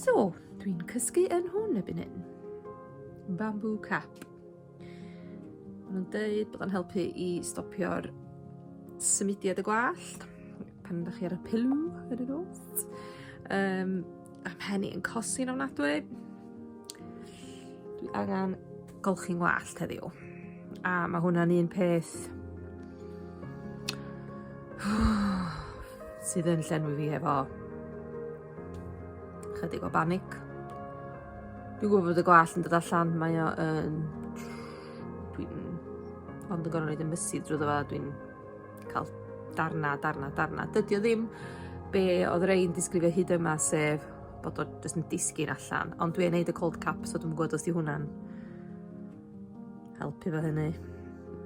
So, dwi'n cysgu yn hwn y byn hyn. Bamboo cap. Maen nhw'n deud bod o'n helpu i stopio'r symudiad y gwallt pan ydych chi ar y pilw yn y nos. Um, a mhen i'n cosi'n ofnadwy. Dwi angen golchi'n wallt heddiw. A mae hwnna'n un peth sydd yn llenwi fi efo Chydig o banic. Dwi'n gwybod bod y gwall yn dod allan, mae o yn... Dwi'n... Ond yn gorau rhaid yn mysu drwy ddefa, dwi'n cael darna, darna, darna. Dydy o ddim be oedd Rein disgrifio hyd yma, sef bod o jyst yn disgyn allan. Ond dwi'n neud y cold cap, so dwi'n gwybod os di hwnna'n Helpu fo hynny.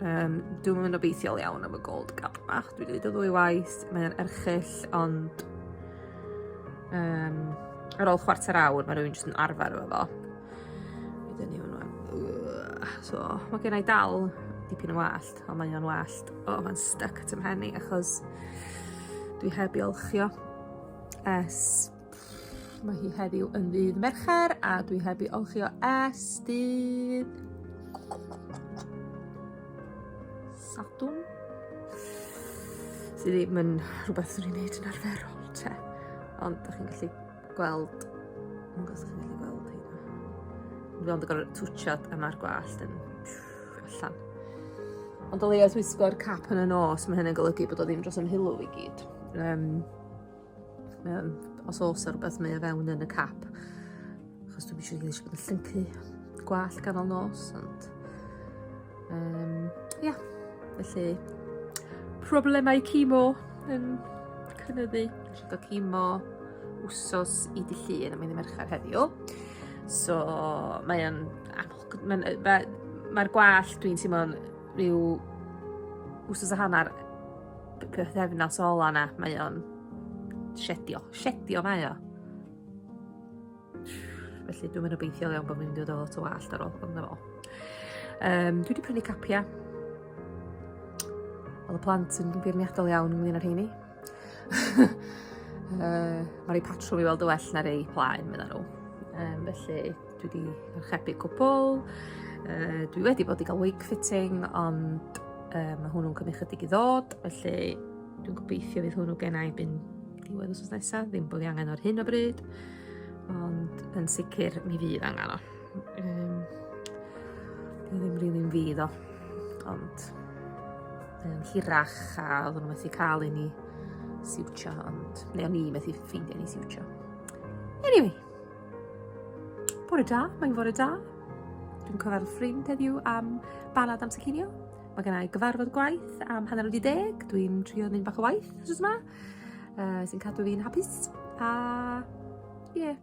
Um, dwi'n mynd obeithiol iawn am y gold gap bach. Dwi'n dweud o ddwy waith, mae'n erchill, ond um, ar ôl chwarter awr mae rhywun jyst yn arfer efo fo. Wedyn ni hwnnw. So, mae gen i dal dipyn o wallt, ond mae'n o'n wallt. O, oh, mae'n stuck at ymhen i, achos dwi heb i olchio es Mae hi heddiw yn ddydd Mercher a dwi heb i olchi o es dydd... Sadwn? Sydd ddim yn rhywbeth sy'n ei wneud yn arferol te. Ond da chi'n gallu gweld... Ond da chi'n gallu gweld hynna. Dwi'n ond yn gorau twtiodd a mae'r gwallt yn allan. Ond o leia'r wisgo'r cap yn y nos, mae hynny'n golygu bod o ddim dros ymhilw i gyd. Um, Um, os oes ar rhywbeth mae o fewn yn y cap. Achos dwi'n eisiau gael eisiau bod yn llyncu gwall ganol nos, ond... Um, ia, yeah. felly... Problemau cimo yn cynyddu. Rhaid o cimo wsos i dy llun, a mae'n ddim mercher heddiw. So, mae'n... Mae'r gwall dwi'n teimlo'n rhyw wsos a hanner pythefnos ola 'na mae o'n shedio. Shedio mae o. Felly dwi'n mynd obeithiol iawn bod fi'n mynd i ddod o wallt ar ôl hwnnw fo. Um, dwi wedi prynu capia. Oedd y plant yn beirniadol iawn ynglyn â'r heini. uh, Mae rei patrwm i weld y well na rei plaen, meddyn nhw. Um, felly, Dwi wedi archebu cwpl, uh, dwi wedi bod i gael wig fitting, ond uh, mae hwnnw'n cymryd chydig i ddod, felly dwi'n gobeithio fydd hwnnw gen i byn diwedd os nesaf, ddim bod i angen o'r hyn o bryd, ond yn sicr mi fydd angen o. Um, dwi ddim rili'n fydd o, ond um, hirach a oedd nhw'n methu cael i ni siwtio, ond neu o'n i methu ffeindio ni siwtio. Anyway, Bore da, mae'n fore da. Dwi'n cofio'r ffrind heddiw am balad amser cinio. Mae gen i gyfarfod gwaith am hanner wedi deg. Dwi'n trio mynd bach o waith os yma. Uh, sy'n cadw fi'n hapus. A... ie. Yeah.